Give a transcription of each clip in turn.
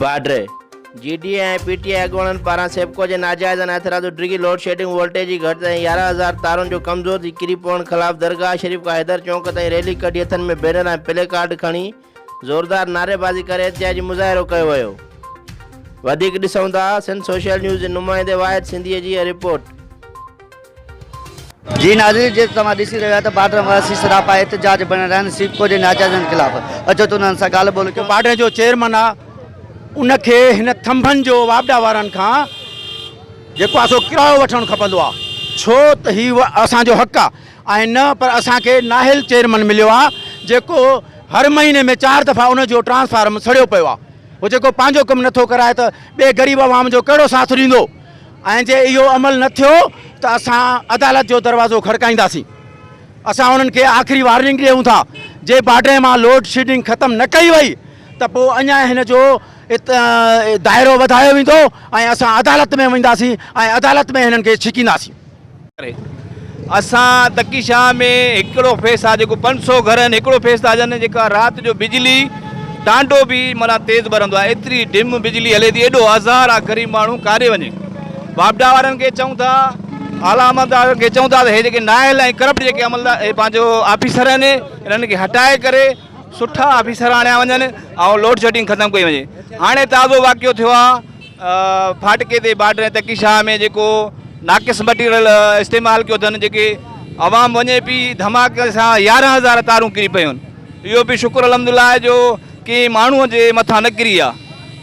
Badri, G D A ۽ P T I اڳواڻن پاران SEPCO جي ناجائزن اعتراض ڊگهي لوڊشيڊنگ، وولٽيج جي گهٽتائي ۽ يارهن هزار تارن جو ڪمزور ٿي ڪري پوڻ خلاف درگاهه شريف کان حيدر چونڪ تائين ريلي ڪڍي هٿن ۾ بينر ۽ پلي ڪارڊ کڻي زوردار نعريبازي ڪري احتجاجي مظاهرو ڪيو ويو. وڌيڪ ڏسون ٿا سنڌ سوشل نيوز جي نمائندي واحد سنڌيء جي هيء رپورٽ. جي ناظرين جيئن ته توهان ڏسي رهيو آهيو ته بارڊر واسي سراپا احتجاج ۾ بڻيل آهن سيپڪو جي ناجائزن خلاف اچو ته انهن سان ڳالهه ٻولهه ڪيون. بارڊر جو چيئرمن آ ان کي هن ٿنڀن جو واپڊا وارن کان جيڪو آ سو ڪرايو وٺڻ کپندو آ ڇو ته هي اسان جو حق آ ۽ نه پر اسان کي نااهل چيئرمن مليو آ جيڪو هر مهيني ۾ چار دفعا ان جو ٽرانسفارم سڙيو پيو آ هو جيڪو پنهنجو ڪم نٿو ڪرائي ته ٻئي غريب عوام جو ڪهڙو ساٿ ڏيندو ۽ جي اهو عمل نه ٿيو ته اسان عدالت جو دروازو کڙڪائينداسين. اسان انهن کي آخري وارننگ ڏيون ٿا جي باڊري مان لوڊ شيڊنگ ختم نه ڪئي وئي ته پوء اڃا هن جو دائرو وڌايو ويندو ۽ اسان عدالت ۾ وينداسين ۽ عدالت ۾ هنن کي ڇڪينداسين. اسان تڪي شاهه ۾ هڪڙو فيس آ جيڪو پنج سو گهر آهن هڪڙو فيس ٿا جن جيڪا رات جو بجلي ٽانڊو به معنيٰ تيز ٻرندو آ ايتري ڊم بجلي هلي ٿي ايڏو آزار آ غريب ماڻهو ڪاڏي وڃي واپڊا وارن کي چئون ٿا اعليٰ عملدارن کي چئون ٿا ته هي جيڪي نااهل ۽ ڪرپٽ جيڪي عملدار هي پنهنجو آفيسر آهن انهن کي هٽائي ڪري سٺا آفيسر آڻيا وڃن ۽ لوڊشيڊنگ ختم ڪئي وڃي هاڻي تازو واقعو ٿيو آ ڦاٽڪي تي بارڊر ۽ تڪي شاهه ۾ جيڪو ناقص مٽيريل استعمال ڪيو اٿن جيڪي عوام وڃي پي ڌماڪي سان يارهن هزار تارون ڪري پيون اهو به شڪر الحمدلله آهي جو ڪي ماڻهو جي مٿان نه ڪري آ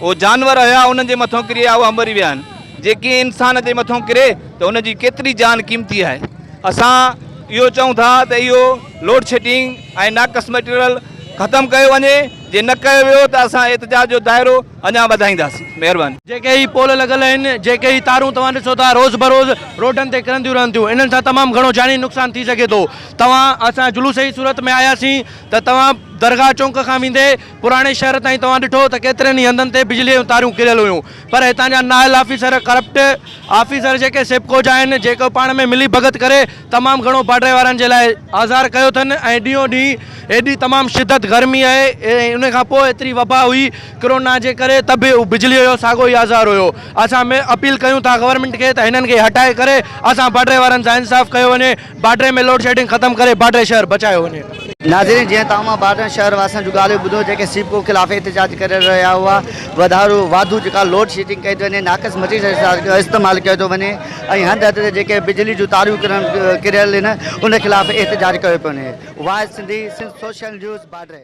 او جانور هيا انهن جي مٿو ڪري آ اهو مري ويا آهن جي ڪي انسان جي مٿو ڪري ته ان جي ڪيتري جان قيمتي آهي اسان اهو چون ٿا ته اهو لوڊ شيڊنگ ۽ ناقص مٽيريل ختم ڪيو وڃي جي نه ڪيو ويو ته اسان احتجاج جو دائرو اڃا وڌائينداسين. مهرباني. جيڪي هي پول لڳل آهن، جيڪي هي تارون توهان ڏسو ٿا روز بروز روڊن تي ڪرنديون رهن ٿيون، انهن سان تمام گهڻو جاني نقصان ٿي سگهي ٿو. توهان اسان جلوس جي صورت ۾ آياسين ته توهان درگاهه چونڪ کان ويندي پراڻي شهر تائين توهان ڏٺو ته ڪيترن ئي هنڌن تي بجلي جون تاريون ڪريل هيون پر هتان جا نااهل آفيسر ڪرپٽ آفيسر جيڪي سيپڪو جا آهن جيڪو پاڻ ۾ ملي ڀڳت ڪري تمام گهڻو پاڙي وارن جي لاء آزار ڪيو اٿن ۽ ڏينهون ڏينهن ايڏي تمام شدت گرمي آهي ۽ ان کان پوء ايتري وبا هئي ڪرونا جي ڪري ته به بجليء جو ساڳو ئي آزار هيو اسان م اپيل ڪيون ٿا گورنمينٽ کي ته هنن کي هٽائي ڪري اسان پاڙي وارن سان انصاف ڪيو وڃي پاڙي ۾ لوڊشيڊنگ ختم ڪري پاڙي شهر بچايو وڃي. ناظرين جيئن ته اوهان پاڙي شهر واسين جون ڳالهيون ٻڌيون جيڪي سيپڪو خلاف احتجاج ڪري رهيا هئا وڌارو واڌو جيڪا لوڊشيڊنگ ڪئي ٿي وڃي ناقص مٽيريل جو استعمال ڪيو ٿو وڃي ۽ هنڌ هنڌ تي جيڪي بجلي جون تاريون ڪريل هن ان خلاف احتجاج ڪيو پيو وڃي واء سنڌي سنڌ سوشل نيوز بادري.